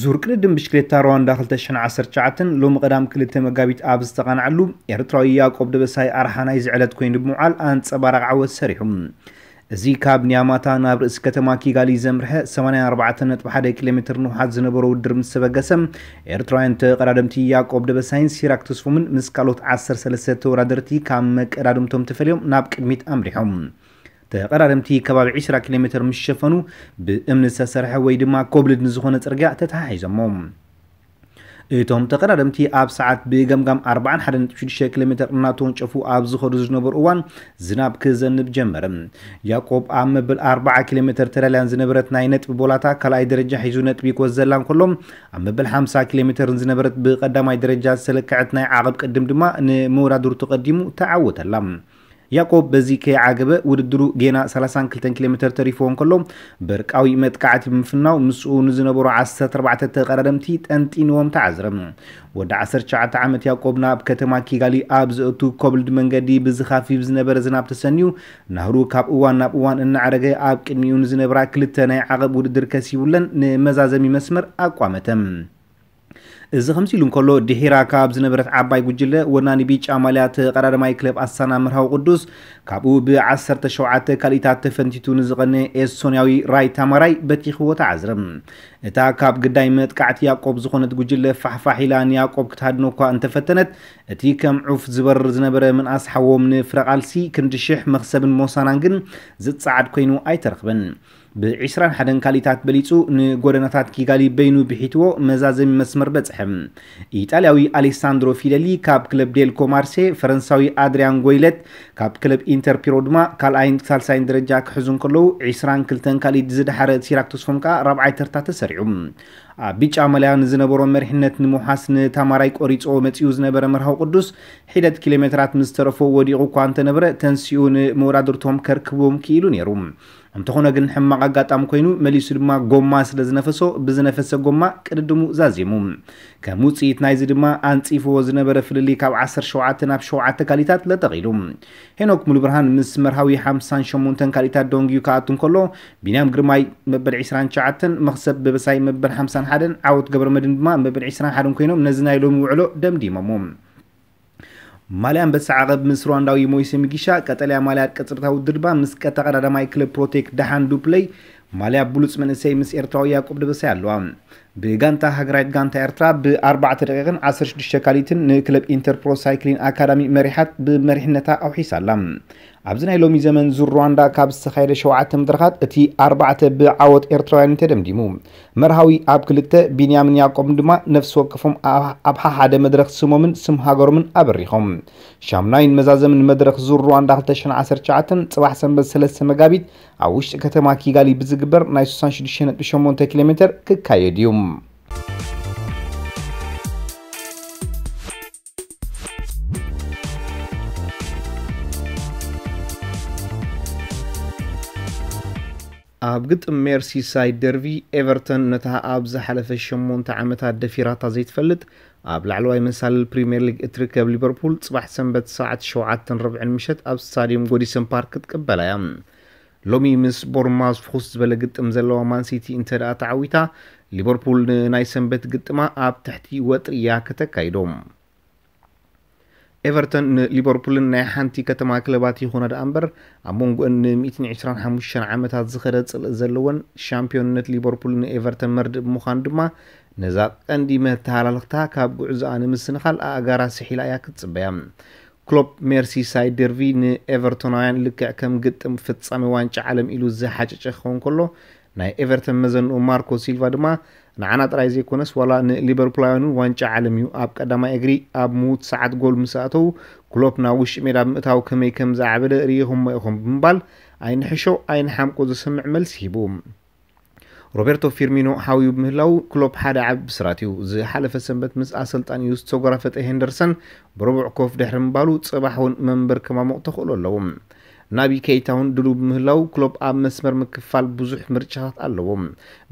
ዙር ቅድድም ብሽክሌታ ሩዋንዳ 2019 ሎሚ ቀዳም ክልተ መጋቢት ኣብ ዝተቓንዓሉ ኤርትራዊ ያቆብ ደበሳይ ኣርሓ ናይዚ ዕለት ኮይኑ ብምውዓል ኣንጸባራቕ ዓወት ሰሪሑ። እዚ ካብ ኒያማታ ናብ ርእሲ ከተማ ኪጋሊ ዘምርሐ 84.1 ኪሎ ሜትር ንውሓት ዝነበሮ ውድድር ምስ ተበገሰ ኤርትራውያን ተቐዳደምቲ ያቆብ ደበሳይን ሲራክ ተስፎምን ምስ ካልኦት 13 ተወዳደርቲ ካብ መቀዳድምቶም ተፈልዮም ናብ ቅድሚት ኣምሪሖም። ተቐራረምቲ ከባቢ ዒስራ ኪሎ ሜተር ምስ ሸፈኑ ብእምኒ ዝተሰርሐ ወይ ድማ ኮብልድ ንዝኾነ ጽርግያ ተተሓሒዞሞ። እቶም ተቐራረምቲ ኣብ ሰዓት ብገምጋም ኣርባዓን ሓደ ነጥቢ ሽዱሽተ ኪሎ ሜተር እናተወንጨፉ ኣብ ዝኸዱ ዝነበሩ እዋን ዝናብ ክዘንብ ጀመረ። ያቆብ ኣብ መበል ኣርባዓ ኪሎ ሜተር ተዳልያን ዝነበረት ናይ ነጥቢ ቦላታ ካልኣይ ደረጃ ሒዙ ነጥቢ ክወዘላ እንከሎ ኣብ መበል ሓምሳ ኪሎ ሜተርን ዝነበረት ብቀዳማይ ደረጃ ዝተለክዐት ናይ ዓቐብ ቅድም ድማ ንመወዳድርቱ ቀዲሙ ተዓወተላ። ያቆብ በዚ ከይዓገበ ውድድሩ ጌና ሰላሳን ክልተን ኪሎ ሜተር ተሪፍዎ እንከሎ በርቃዊ መጥቃዕቲ ብምፍናው ምስኡ ንዝነበሩ ዓሰርተ ኣርባዕተ ተቐዳደምቲ ጠንጢንዎም ተዓዝረ። ወዲ ዓሰርተ ትሽዓተ ዓመት ያቆብ ናብ ከተማ ኪጋሊ ኣብ ዘእቱ ኮብልድ መንገዲ ብዝኻፊፍ ዝነበረ ዝናብ ተሰንዩ ናህሩ ካብ እዋን ናብ እዋን እናዕረገ ኣብ ቅድሚኡ ንዝነብራ ክልተ ናይ ዓቐብ ውድድር ከሲቡለን ንመዛዘሚ መስመር ኣቋመተ። እዚ ከምዚሉ እንከሎ ድሒራ ካብ ዝነበረት ዓባይ ጉጅለ ወናኒ ቢጫ ማልያ ተቐዳደማይ ክለብ ኣሳና መርሃዊ ቅዱስ ካብኡ ብ ዓሰርተ ሸውዓተ ካልኢታት ተፈንቲቱ ንዝቐነ ኤስቶንያዊ ራይ ታማራይ በቲኽዎ ተዓዝረ። እታ ካብ ግዳይ መጥቃዕቲ ያቆብ ዝኾነት ጉጅለ ፋሕፋሕ ኢላ ንያቆብ ክትሃድኖ እኳ እንተፈተነት እቲ ከም ዑፍ ዝበርር ዝነበረ ምንኣስ ሓዎም ንፍረቓልሲ ክንዲ ሽሕ መኽሰብን ሞሳናን ግን ዝጸዓድ ኮይኑ ኣይተረኽበን። ብዒስራን ሓደን ካሊታት በሊጹ ንጎደናታት ኪጋሊ በይኑ ብሒትዎ መዛዘሚ መስመር በጽሐ። ኢጣልያዊ ኣሌሳንድሮ ፊለሊ ካብ ክለብ ዴልኮ ማርሴ፣ ፈረንሳዊ ኣድርያን ጎይለት ካብ ክለብ ኢንተር ፒሮ ድማ ካልኣይን ሳልሳይን ደረጃ ክሕዙ እንከለዉ፣ ዒስራን ክልተን ካሊት ዝደሓረ ሲራክ ተስፎም ከኣ ራብዓይ ተርታ ተሰሪዑ። ኣብ ቢጫ ማልያ ንዝነበሮ መሪሕነት ንምውሓስ ንታማራይ ቆሪጹዎ መጺኡ ዝነበረ መርሃዊ ቅዱስ፣ ሒደት ኪሎሜተራት ምስ ተረፎ ወዲቑ እኳ እንተነበረ ተንሲኡ ንመወዳድርቶም ከርክብዎም ክኢሉ ነይሩ። እንተኾነ ግን ሕማቕ ኣጋጣሚ ኮይኑ መሊሱ ድማ ጎማ ስለ ዝነፈሶ ብዝነፈሰ ጎማ ቅድድሙ ዛዚሙ። ከም ውጽኢት ናይዚ ድማ ኣንጺፍዎ ዝነበረ ፍልልይ ካብ ዓሰርተ ሸውዓተ ናብ ሸውዓተ ካሊታት ለጠቕ ኢሉ። ሄኖክ ሙሉብርሃን ምስ መርሃዊ ሓምሳን ሸሞንተን ካሊታት ደንጉዩ ክኣቱ እንከሎ ቢንያም ግርማይ መበል ዕስራን ትሽዓተን፣ መኽሰብ ደበሳይ መበል ሓምሳን ሓደን፣ ዓወት ገብረመድህን ድማ መበል ዕስራን ሓደን ኮይኖም ነዚ ናይ ሎሚ ውዕሎ ደምዲሞሞ። ማልያ ኣንበሳ ዓቐብ ምስ ሩዋንዳዊ ሞይሴ ሚጊሻ፣ ቀጠልያ ማልያ ቅጽበታዊ ድርባ ምስ ቀተቐዳዳማይ ክለብ ፕሮቴክ ደሓን ዱፕለይ፣ ማልያ ብሉጽ መንእሰይ ምስ ኤርትራዊ ያቆብ ደበሳይ ኣለዋ። ብጋንታ ሃገራዊት ጋንታ ኤርትራ ብ ኣርባዕተ ደቒቕን ዓሰርተ ሽዱሽተ ካልኢትን ንክለብ ኢንተር ፕሮ ሳይክሊን ኣካዳሚ መሪሓት ብመሪሕነታ ኣውሒሳ ኣላ። ኣብዚ ናይ ሎሚ ዘመን ዙር ሩዋንዳ ካብ ዝተኻየደ ሸውዓተ መድረኻት እቲ ኣርባዕተ ብዓወት ኤርትራውያን እዩ ተደምዲሙ። መርሃዊ ኣብ ክልተ፣ ቢንያምን ያቆብን ድማ ነፍሲ ወከፎም ኣብ ሓሓደ መድረኽ ስሞምን ስም ሃገሮምን ኣበሪኾም። ሻሙናይን መዛዘምን መድረኽ ዙር ሩዋንዳ ክልተ ሽሕን ዓሰርተ ትሽዓተን ጽባሕ ሰንበት ሰለስተ መጋቢት ኣብ ውሽጢ ከተማ ኪጋሊ ብዝግበር ናይ ስሳን ሽዱሽተን ነጥቢ ሸሞንተ ኪሎሜተር ክካየድ እዩ። ኣብ ግጥም ሜርሲሳይድ ደርቪ ኤቨርተን ነታ ኣብ ዝሓለፈ ሸሞንተ ዓመታት ደፊራታ ዘይትፈልጥ ኣብ ላዕለዋይ መሳልል ፕሪምየር ሊግ እትርከብ ሊቨርፑል ፅባሕ ሰንበት ሰዓት ሸውዓተን ርብዕን ምሸት ኣብ ስታድየም ጎዲሰን ፓርክ ክትቅበላ እያ ሎሚ ምስ ቦርንማውዝ ፍኹስ ዝበለ ግጥም ዘለዋ ማን ሲቲ እንተድኣ ተዓዊታ፣ ሊቨርፑል ንናይ ሰንበት ግጥማ ኣብ ትሕቲ ወጥሪ እያ ከተካይዶ። ኤቨርተን ንሊቨርፑልን ናይ ሓንቲ ከተማ ክለባት ይኹና ደኣ እምበር፣ ኣብ መንጎኣን ን ሚእትን ዕስራን ሓሙሽተን ዓመታት ዝኸደ ጽልኢ ዘለወን፣ ሻምፕዮንነት ሊቨርፑል ንኤቨርተን መርድእ ብምዃኑ ድማ ነዛ ቀንዲ መተሃላልኽታ ካብ ጉዕዞኣ ንምስንኻል ኣእጋራ ስሒላ እያ ክትጽበያ። ክሎፕ ሜርሲሳይድ ደርቪ ንኤቨርቶናውያን ልክዕ ከም ግጥም ፍጻመ ዋንጫ ዓለም ኢሉ ዝሓጨጨ ክኸውን ከሎ፣ ናይ ኤቨርተን መዘንኡ ማርኮ ሲልቫ ድማ ንዓና ጥራይ ዘይኮነስ ዋላ ንሊበርፑላውያን'ውን ዋንጫ ዓለም'ዩ፣ ኣብ ቀዳማይ እግሪ ኣብ ምዉት ሰዓት ጎል ምስ ኣእተዉ ክሎፕ ናብ ውሽጢ ሜዳ ብምእታው ከመይ ከም ዝዓበደ ርኢኹሞ ኢኹም ብምባል ኣይንሕሾ ኣይንሓምቆ ዘሰምዕ መልሲ ሂቡ። ሮቤርቶ ፊርሚኖ ሓውዩ ብምህላዉ ክሎፕ ሓደ ዓቢ ብስራት'ዩ። ዝሓለፈ ሰንበት ምስ ኣሰልጣኒኡ ዝተጎራፈጠ ሄንደርሰን ብረቡዕ ኮፍ ድሕሪ ምባሉ ጽባሕ'ውን መንበር ከማሙቕ ተኽእሎ ኣለዎ። ናቢ ከይታ'ውን ድሉው ብምህላዉ ክሎፕ ኣብ መስመር ምክፋል ብዙሕ ምርጫታት ኣለዎ።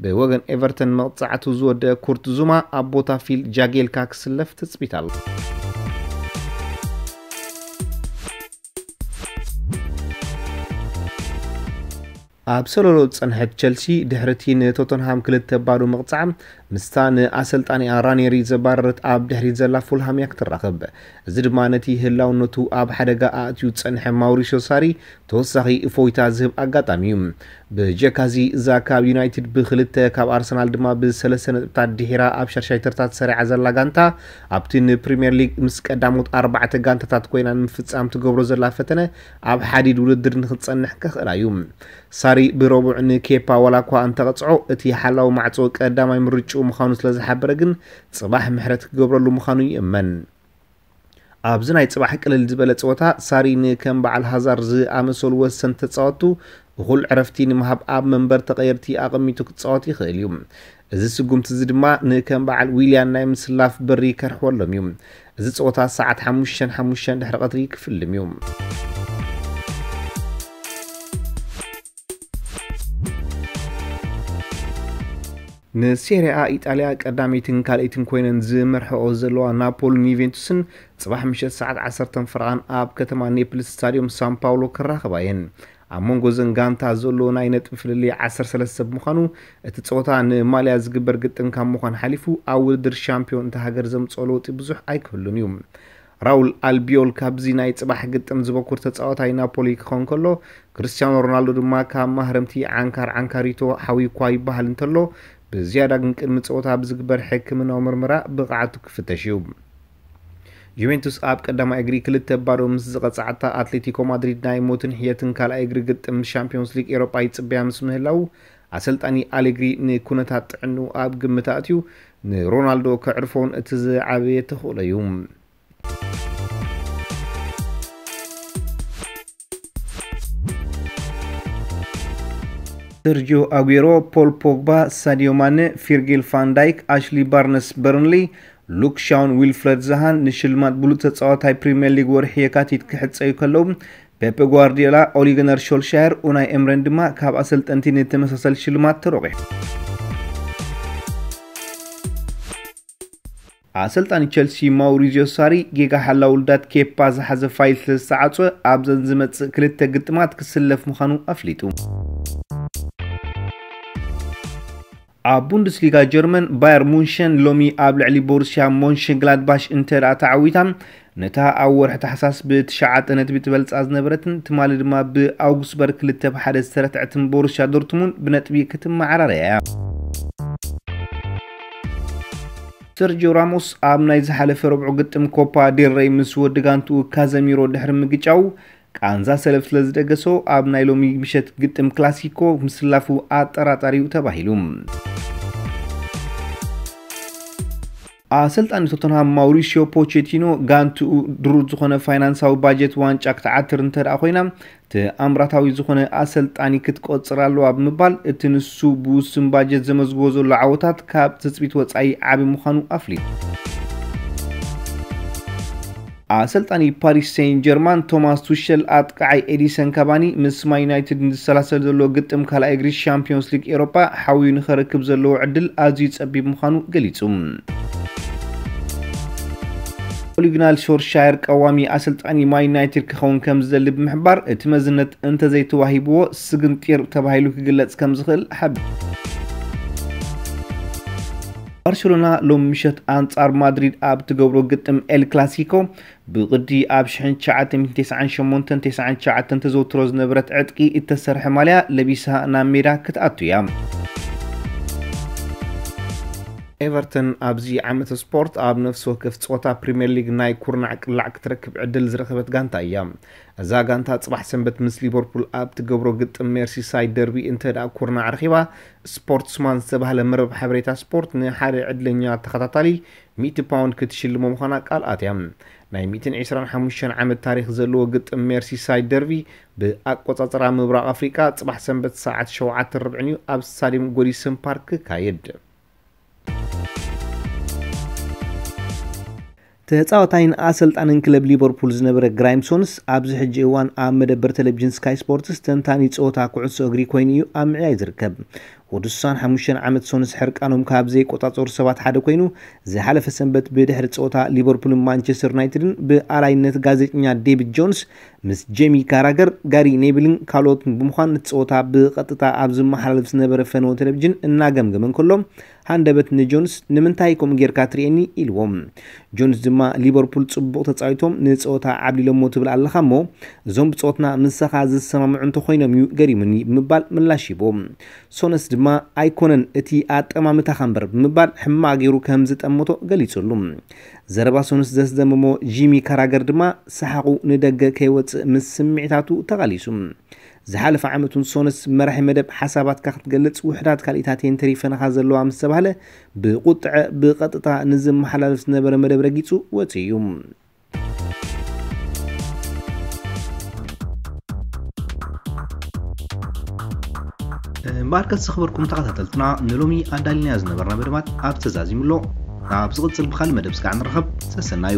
ብወገን ኤቨርተን መቕጻዕቱ ዝወደኣ ኩርት ዙማ ኣብ ቦታ ፊል ጃጌልካ ክስለፍ ትጽቢት ኣሎ። ኣብ ሰሎሎ ዝጸንሐት ቸልሲ ድሕሪ'ቲ ንቶተንሃም ክልተ ባዶ ምቕጻዕ፣ ምስታ ንኣሰልጣኒኣ ራኔሪ ዘባረረት ኣብ ድሕሪት ዘላ ፉልሃም'ያ ክትራኽብ። እዚ ድማ ነቲ ህላውነቱ ኣብ ሓደጋ ኣእትዩ ዝጸንሐ ማውሪስዮ ሳሪ ተወሳኺ እፎይታ ዝህብ ኣጋጣሚ'ዩ። ብጀካ'ዚ እዛ ካብ ዩናይትድ ብክልተ ካብ ኣርሰናል ድማ ብሰለስተ ነጥብታት ድሒራ ኣብ ሻድሻይ ተርታ ተሰሪዓ ዘላ ጋንታ ኣብቲ ንፕሪምየር ሊግ ምስ ቀዳሞት ኣርባዕተ ጋንታታት ኮይና ንምፍጻም ትገብሮ ዘላ ፈተነ ኣብ ሓዲድ ውድድር ንኽትጸንሕ ከኽእላ እዩ። ሳሪ ብረቡዕ ንኬፓ ዋላኳ እንተቐጽዖ፣ እቲ ሓላዊ ማዕጾ ቀዳማይ ምርጭኡ ምዃኑ ስለዝሓበረ ግን ጽባሕ ምሕረት ክገብረሉ ምዃኑ ይእመን። ኣብዚ ናይ ጽባሕ ቅልል ዝበለ ጸወታ፣ ሳሪ ንከም በዓል ሃዛር ዝኣመሰሉ ወሰንቲ ተጻወትቱ እኹል ዕረፍቲ ንምሃብ ኣብ መንበር ተቐየድቲ ኣቐሚጡ ክጻወት ይኽእል እዩ። እዚ ስጉምቲ እዚ ድማ ንከም በዓል ዊልያን ናይ ምስላፍ በሪ ከርሕወሎም እዩ። እዚ ጸወታ ሰዓት ሓሙሽተን ሓሙሽተን ድሕሪ ቐትሪ ክፍልም እዩ። ንሴሪኣ ኢጣልያ ቀዳመይትን ካልኣይትን ኮይነን ዝመርሕኦ ዘለዋ ናፖልን ዩቬንቱስን ጽባሕ ምሸት ሰዓት 10 ፈረቓን ኣብ ከተማ ኔፕልስ ስታድዮም ሳን ፓውሎ ክራኸባ እየን። ኣብ መንጎ እዘን ጋንታ ዘሎ ናይ ነጥቢ ፍልልይ ዓሰርተ ሰለስተ ብምዃኑ፣ እቲ ጸወታ ንማልያ ዝግበር ግጥም ካብ ምዃን ሓሊፉ ኣብ ውድድር ሻምፕዮን እታ ሃገር ዘምጽኦ ለውጢ ብዙሕ ኣይክህሉን እዩ። ራውል ኣልቢዮል ካብዚ ናይ ጽባሕ ግጥም ዝበኩር ተጻዋታይ ናፖሊ ክኸውን ከሎ፣ ክርስትያኖ ሮናልዶ ድማ ካብ ማህረምቲ ዓንካር ዓንካሪቶ ሓውዩ'ኳ ይበሃል እንተሎ፣ ብዝያዳ ግን ቅድሚ ጸወታ ብዝግበር ሕክምናዊ ምርመራ ብቕዓቱ ክፍተሽ እዩ። ጁቬንቱስ ኣብ ቀዳማይ እግሪ ክልተ ባዶ ምስ ዝቐጻዕታ ኣትሌቲኮ ማድሪድ ናይ ሞትን ሕየትን ካልኣይ እግሪ ግጥም ንሻምፒዮንስ ሊግ ኤሮጳ ይጽበያ ምስ ምህላው ኣሰልጣኒ ኣሌግሪ ንኩነታት ጥዕንኡ ኣብ ግምት ኣእትዩ ንሮናልዶ ከዕርፎን እቲ ዝዓበየ ተኽእሎ እዩ። ሰርጂዮ ኣጉሮ፣ ፖል ፖግባ፣ ሳዲዮ ማነ፣ ፊርጊል ፋንዳይክ፣ ኣሽሊ ባርነስ በርንሊ፣ ሉክ ሻውን ዊልፍረድ ዛሃን ንሽልማት ብሉፅ ተፃዋታይ ፕሪምየር ሊግ ወርሒ የካቲት ክሕፀዩ ከለዉ ፔፐ ጓርዲዮላ፣ ኦሊገነር ሾልሻየር፣ ኡናይ ኤምረን ድማ ካብ ኣሰልጠንቲ ንተመሳሰል ሽልማት ተሮቂሑ። ኣሰልጣኒ ቸልሲ ማውሪዝዮ ሳሪ፣ ጌጋ ሓላውልዳት ኬፓ ዝሓዘ ፋይል ስለዝተዓጽወ፣ ኣብዘን ዝመጽእ ክልተ ግጥማት ክስለፍ ምዃኑ ኣፍሊጡ። ኣብ ቡንደስሊጋ ጀርመን፣ ባየር ሙንሸን ሎሚ ኣብ ልዕሊ ቦሩስያ ሞንሸንግላድባሽ እንተድኣ ተዓዊታ፣ ነታ ኣብ ወርሒ ታሕሳስ ብ ትሽዓተ ነጥቢ ትበልጻ ዝነበረትን ትማሊ ድማ ብ ኣውግስበርግ ክልተ ብ ሓደ ዝተረትዐትን ቦሩስያ ዶርትሙንድ ብነጥቢ ክትመዓራረ እያ። ሰርጂዮ ራሞስ ኣብ ናይ ዝሓለፈ ረቡዕ ግጥም ኮፓ ዴል ረይ ምስ ወዲ ጋንትኡ ካዘሚሮ ድሕሪ ምግጫው ቃንዛ ሰለፍ ስለዝደገሶ ኣብ ናይ ሎሚ ምሸት ግጥም ክላሲኮ ምስላፉ ኣጠራጣሪ'ዩ ተባሂሉ። ኣሰልጣኒ ቶተንሃም ማውሪሲዮ ፖቼቲኖ ጋንትኡ ድሩት ዝኾነ ፋይናንሳዊ ባጀት ዋንጫ ክትዓትር እንተደኣ ኮይና ተኣምራታዊ ዝኾነ ኣሰልጣኒ ክትቆጽር ኣለዋ ብምባል እቲ ንሱ ብውሱን ባጀት ዘመዝግቦ ዘሎ ዓወታት ካብ ትጽቢት ወጻኢ ዓቢ ምዃኑ ኣፍሊጡ። ኣሰልጣኒ ፓሪስ ሰይን ጀርማን ቶማስ ቱሸል ኣጥቃዓይ ኤዲሰን ካቫኒ ምስ ማይ ዩናይትድ ንዝሰላሰል ዘሎ ግጥም ካልኣይ እግሪ ሻምፕዮንስ ሊግ ኤሮጳ ሓውዩ ንኸረክብ ዘለዎ ዕድል ኣዝዩ ጸቢብ ምዃኑ ገሊጹ። ኦሊግናል ሾርሻየር ቀዋሚ ኣሰልጣኒ ማይ ዩናይትድ ክኸውን ከም ዝደሊ ብምሕባር እቲ መዝነት እንተዘይተዋሂብዎ ስግንጢር ተባሂሉ ክግለጽ ከም ዝኽእል ሓቢሩ። ባርሴሎና ሎሚ ምሸት ኣንጻር ማድሪድ ኣብ ትገብሮ ግጥም ኤል ክላሲኮ ብቕዲ ኣብ 1998 99 ተዘውትሮ ዝነበረት ዕጥቂ እተሰርሐ ማልያ ለቢሳ ናብ ሜዳ ክትኣቱ እያ። ኤቨርተን ኣብዚ ዓመተ ስፖርት ኣብ ነፍሲ ወከፍ ጸወታ ፕሪምየር ሊግ ናይ ኩርናዕ ቅላዕ ክትረክብ ዕድል ዝረኸበት ጋንታ እያ። እዛ ጋንታ ጽባሕ ሰንበት ምስ ሊቨርፑል ኣብ ትገብሮ ግጥም ሜርሲሳይድ ደርቢ እንተ ደኣ ኩርናዕ ረኺባ ስፖርትስማን ዝተባህለ መርበብ ሓበሬታ ስፖርት ንሓደ ዕድለኛ ተኸታታሊ ሚእቲ ፓውንድ ክትሽልሞ ምዃና ቃል ኣትያ። ናይ ሚእትን ዕስራን ሓሙሽተን ዓመት ታሪኽ ዘለዎ ግጥም ሜርሲሳይድ ደርቪ ብኣቆጻጽራ ምብራቕ ኣፍሪቃ ጽባሕ ሰንበት ሰዓት ሸውዓተን ርብዕን'ዩ ኣብ ስታድየም ጎዲሰን ፓርክ ክካየድ። ተጻዋታይን ኣሰልጣንን ክለብ ሊቨርፑል ዝነበረ ግራይም ሶንስ፣ ኣብዚ ሕጂ እዋን ኣብ መደበር ተለቪዥን ስካይ ስፖርትስ ተንታኒ ጸወታ ኩዕሶ እግሪ ኮይኑ እዩ ኣብ ምዕያይ ዝርከብ። ወዲ ስሳን ሓሙሽተን ዓመት ሶንስ ሕርቃኖም ካብ ዘይቆጻጸሩ ሰባት ሓደ ኮይኑ፣ ዝሓለፈ ሰንበት ብድሕሪ ጸወታ ሊቨርፑልን ማንቸስተር ዩናይትድን ብኣላይነት ጋዜጠኛ ዴቪድ ጆንስ ምስ ጄሚ ካራገር፣ ጋሪ ኔቪልን ካልኦትን ብምዃን ነቲ ጸወታ ብቐጥታ ኣብ ዝመሓላለፍ ዝነበረ ፈነወ ተለቪዥን እናገምገመ እንከሎ ሃንደበት ንጆንስ ንምንታይ ከምኡ ጌርካ ትርእየኒ? ኢልዎ። ጆንስ ድማ ሊቨርፑል ጽቡቕ ተጻዊቶም ንጸወታ ዓብሊሎሞ ትብል ኣለኻ'ሞ እዞም ብጸወትና ምሳኻ ዝሰማምዑ እንተኾይኖም'ዩ ገሪሙኒ ብምባል ምላሽ ሂቡ። ሶነስ ድማ ኣይኮነን እቲ ኣጠማምታኻ'ምበር ብምባል ሕማቕ ጌሩ ከም ዝጠመቶ ገሊጹሉ። ዘረባ ሶነስ ዘስደመሞ ጂሚ ካራገር ድማ ሰሓቑ ንደገ ከይወጽእ ምስ ስምዒታቱ ተቓሊሱ። ዝሓለፈ ዓመት ውን ሶንስ መራሒ መደብ ሓሳባትካ ክትገልጽ ውሕዳት ካልኢታት እየን ተሪፈናኻ ዘለዋ ምስ ተባህለ ብቁጥዐ ብቐጥታ ንዝመሓላለፍ ዝነበረ መደብ ረጊጹ ወጺኡ እዩ። እምበኣርከስ ዝኸበርኩም ተኸታተልትና ንሎሚ ኣዳሊናዮ ዝነበርና መደባት ኣብ ተዛዚሙ ኣሎ። ኣብ ዝቕጽል ብኻልእ መደብ ስጋዕ ንራኸብ። ሰሰናዩ!